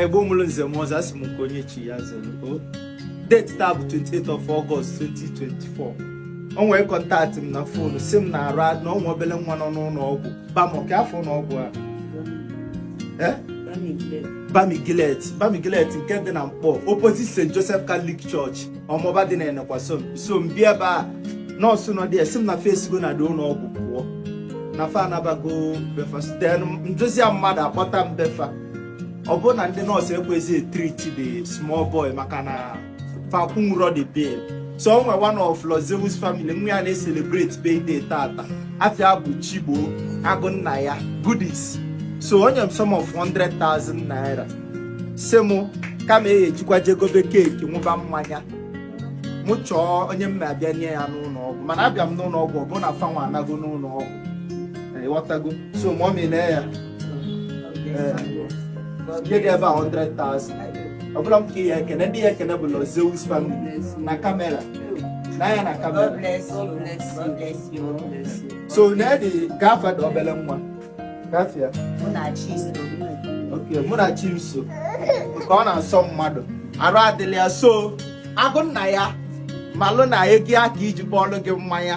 Igbo mụrụ nze mụọ ọzọ asị m nke onye chi ya zere o oh. date taa bụ 28 of August 2024 o nwere kọntaktị m na fonu sị m na arụ na-anwụ obele nwa nọ n'ụlọ ọgwụ bamọ ka afa ụlọ ọgwụ a eh? Bamigilet Bamigilet nke dị na Nkpor opposite St Joseph Catholic Church Omagba dị na Enekwa so m bịa ebe a nọọsụ nọ dị ya sị m na fa esigo na the ụlọ ọgwụ pụọ na fa anabago be fa site nduzi mmadụ akpọta m be fa ọ bụrụ na ndị nọọsụ ekwezi itriti the small boy maka na fa akwụnwurọ the bill so o nwere one of Lord Zeus family nwa ya na-eselebrate birthday tata afa ya bụ Chigbo agụ nna ya goodies so o nye m sum of 100,000 naira sị mụ kama e ejikwa je gobe keeki ṅụba mmanya mụ chọọ onye m na-abịa nye ya n'ụlọ ọgwụ mana abịa m n'ụlọ ọgwụ ọ bụrụ na fa nwa anago n'ụlọ ọgwụ ịghọtago so mọmi na ya nye gị ebe a 100,000 ọ bụrọ m ka ị ya-ekene ndị ị ya-ekene bụ Lord Zeus family na kamera na ya na kamera so na edi kee afa the obere nwa kee afa ya oke mụ na chi m so ka ọ na-asọ mmadụ arụ adịrọ ya so agụ nna ya malụ na ego ya ka iji kpọọlụ gị mmanya